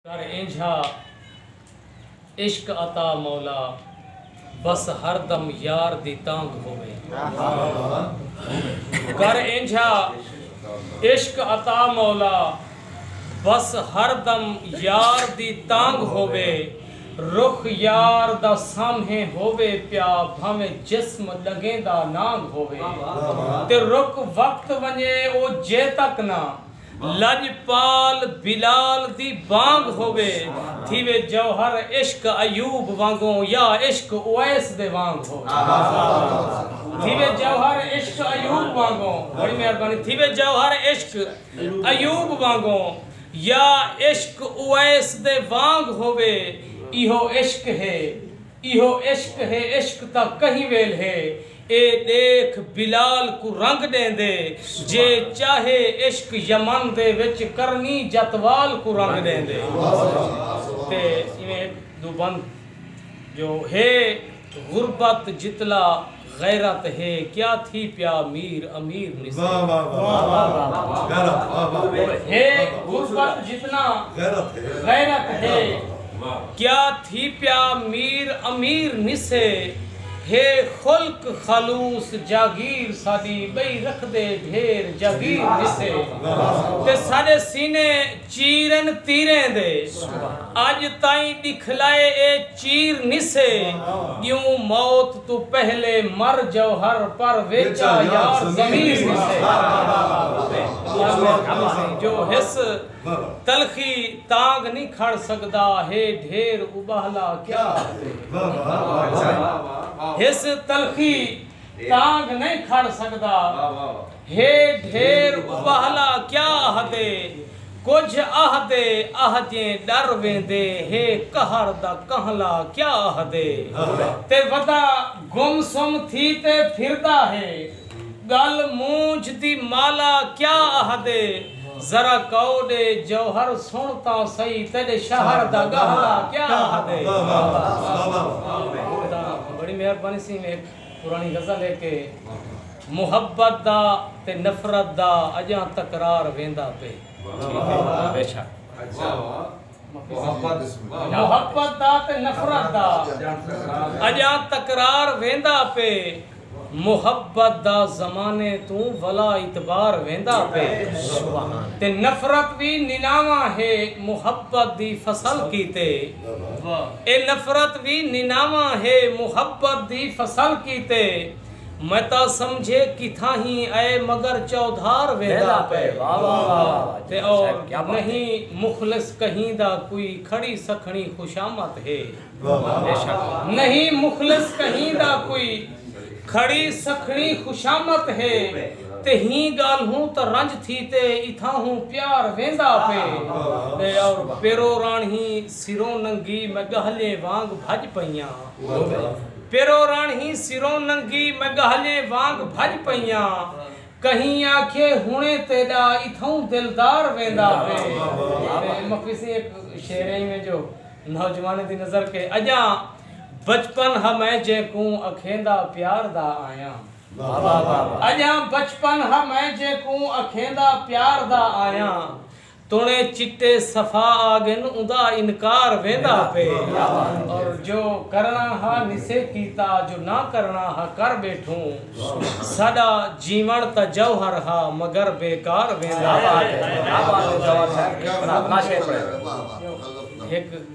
کر اینجھا عشق عطا مولا بس ہر دم یار دی تانگھ ہووے کر اینجھا عشق عطا مولا بس ہر دم یار دی تانگھ ہووے رخ یار دا سامھیں ہووے پیا بھانویں جسم ڈگھیں دا نانگھ ہووے تے رک وقت ونجے او جے تک نہ لڄپال بلال دی بانگ ہووے تھیوے جوہر عشق ایوب وانگوں یا عشق اویس دے وانگ ہووے تھیوے جوہر عشق ایوب وانگوں بڑی مہربانی تھیوے جوہر عشق ایوب وانگوں یا عشق اویس دے وانگ ہووے ایہو عشق ہے ایہو عشق ہے عشق تاں کہیں ویل ہے اے ݙیکھ بلال کوں رنگ ݙیندے جے چاہے عشق یمن دے وچ کرنی جت وال کوں رنگ ݙیندے تے ایویں ہک ݙو بند جو ہے غربت جتلا غیرت ہے کیا تھی پیا میر امیر مصری۔ ہے غربت جتنا غیرت ہے کیا تھی پیا میر امیر مصری۔ ہے خلق خلوص جاگیر ساڈی بئی رکھدے ڈھیر جاگیر مصری۔ تے ساڈے سینے۔ چیرن تیریں دے اج تائیں ڈکھلائے اے چیر نسے گیوں موت توں پہلے مر جوہر پر ویچا یار ضمیر نسے جو حس تلخی تانگ نی کھڑ سکدا ہے ڈھیر ابہلا کیا حس تلخی تانگ نی کھڑ سکدا ہے ڈھیر ابہلا کیا آہدے کجھ آہدے آہجیں ڈر ویندے ہے قہر دا کنہلا کیا آہدے تے ودا گم سم تھی تے پھردا ہے گل مونجھ دی مالا کیا آہدے ذرا کئو ڈے جوہر سن تاں سئی تیڈے شہر دا گہلا کیا آہدے۔ پرانی غزل ہے کہ محبت دا تے نفرت دا اجاں تکرار ویندا پئے۔ محبت دا تے نفرت دا اجاں تکرار ویندا پئے۔ محبت دا زمانے توں ولا اعتبار ویندا پئے۔ تے نفرت وی نناواں ہے محبت دی فصل کیتے۔ اے نفرت وی نناواں ہے محبت دی فصل کیتے میں تاں سمجھے کتھاں ہی اے مگر چودھار ویندا پئے تے اور نہیں مخلص کہیں دا کوئی کھڑی سکھڑی خوشامد ہے نہیں مخلص کہیں دا کوئی کھڑی سکھڑی خوشامد ہے تے ہی گالہوں تاں رنج تھی تے اتھاہوں پیار ویندا پے تے اور پیرو رانہی سروں ننگی میں گہلیں وانگ بھج پئیاں پیرو رانہی سروں ننگی میں گہلیں وانگ بھج پئیاں کہیں آکھے ہنڑیں تیڈا اتھاہوں دلدار ویندا پے تے مفی سیں ایک شعر ہے میں جو نوجوانیں دی نظر کے اجاں بچپن ہا میں جیکوں اکھیندا پیار دا آیاں۔ اڄاں بچپن ہا میں جیکوں اکھیندا پیار دا آیاں۔ تݨے چٹے صفا آڳن اوندا انکار ویندا پئے۔ اور جو کرݨا ہا نسے کیتا جو نہ کرݨا ہا کر ٻیٹھوں۔ ساݙا جیوݨ تاں جوہر ہا مگر بیکار ویندا پئے۔ ہک۔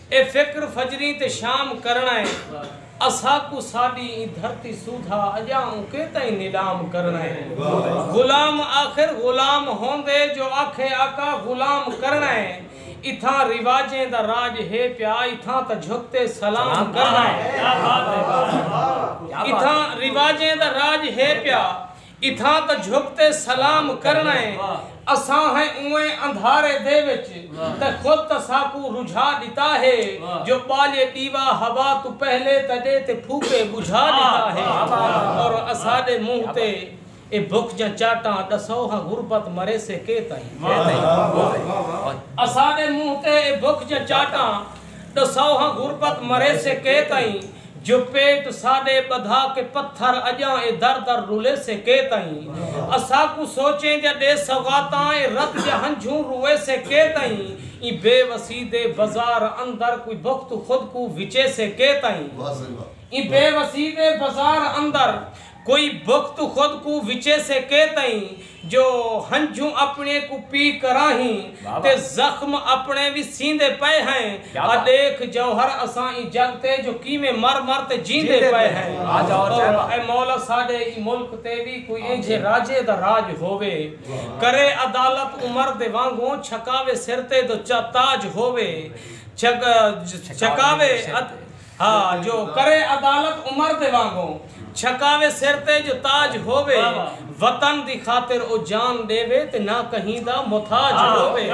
اے فکر فجری تے شام کرݨا اے اساکوں ساݙی ایں دھرتی سودھا اڄاں اونکیں تئیں نیلام کرݨا اے غلام آخر غلام ہوندے جو آکھے آقا غلام کرݨا اے اتھاں رواجیں دا راڄ ہے پیا اتھاں تاں جھک تے سلام کرݨا اے اتھاں رواجیں دا راڄ ہے پیا اتھاں تاں جھک تے سلام کرݨا ہے اساں ہیں اونویں اندھارے دے وچ تے خود تاں ساکوں رجھا ݙتا ہے جو ٻالے ݙیوا ہوا توں پہلے تاں ݙے تے پھوکے ٻجھا ݙتا ہے اور اساݙے منہ تے اے بکھ جاں چاٹاں ݙسو ہاں غربت مریسے کے تئیں اساݙے منہ تے اے بکھ جاں چاٹاں ڈساؤ ہاں غربت مریسے کے تئیں جو پیٹ ساڈے بدھا کے پتھر اجاں اے در در رولیسے کے تئیں اساکوں سوچیں جا ڈے سوغاتاں اے رت جا ہنجھوں رویسے کے تئیں ایں بے وسی دے بزار اندر کوئی بخت خود کوں وچیسے کے تئیں ایں بے وسی دے بزار اندر کوئی بخت خود کوں وچے سے کے تئیں جو ہنجھوں اپنڑیں کوں پی کراں ہین تے زخم اپنڑیں وی سیندے پئے ہیں آ ڈیکھ جوہر اساں ایں جگ تے جو کیویں مر مر تے جیندے پئے ہیں اے مولا ساڈے ایں ملک تے وی کوئی اینجھے راجے دا راج ہووے کرے عدالت عمر دے وانگوں چھکاوے سر تے دو چا تاج ہووے چھکاوے ہا جو کرے عدالت عمر دے وانگوں۔ چھکاوے سر تے جو تاج ہووے۔ وطن دی خاطر او جان ݙیوے تے نہ کہیں دا محتاج ہووے۔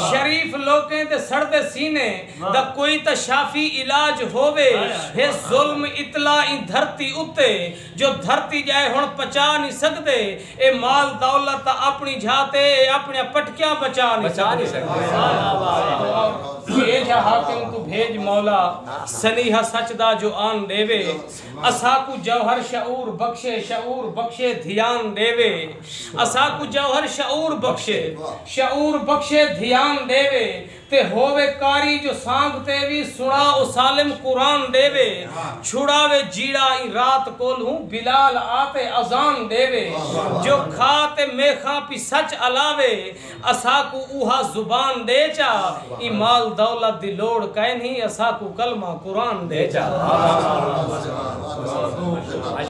شریف لوکیں دے سڑدے سینے دا کوئی تاں شافی علاج ہووے۔ ہے ظلم اتلا ایں دھرتی اتے۔ جو دھرتی ڄائے ہݨ پچا نی سڳدے اے مال دولت تاں آپݨی جھا تے اے آپݨیاں پٹکیاں بچا نی سڳدے۔ اے جھا حاکم کوں بھیڄ مولا سنیہا سچ دا جو آن ݙیوے اساکوں جوہر شعور بخشے شعور بخشے دھیان ݙیوے اساکوں جوہر شعور بخشے شعور بخشے دھیان ݙیوے تے ہووے قاری جو سانگ تے وی سݨا او سالم قرآن ݙیوے چھڑاوے جیڑھا ایں رات کولھوں بلال آتے اذان ݙیوے جو کھا تے میخاں پی سچ الاوے اساکوں اوہا زبان ݙے چا ایں مال دولت دی لوڑ کائنھی اساکوں کلمہ قرآن ݙے چا۔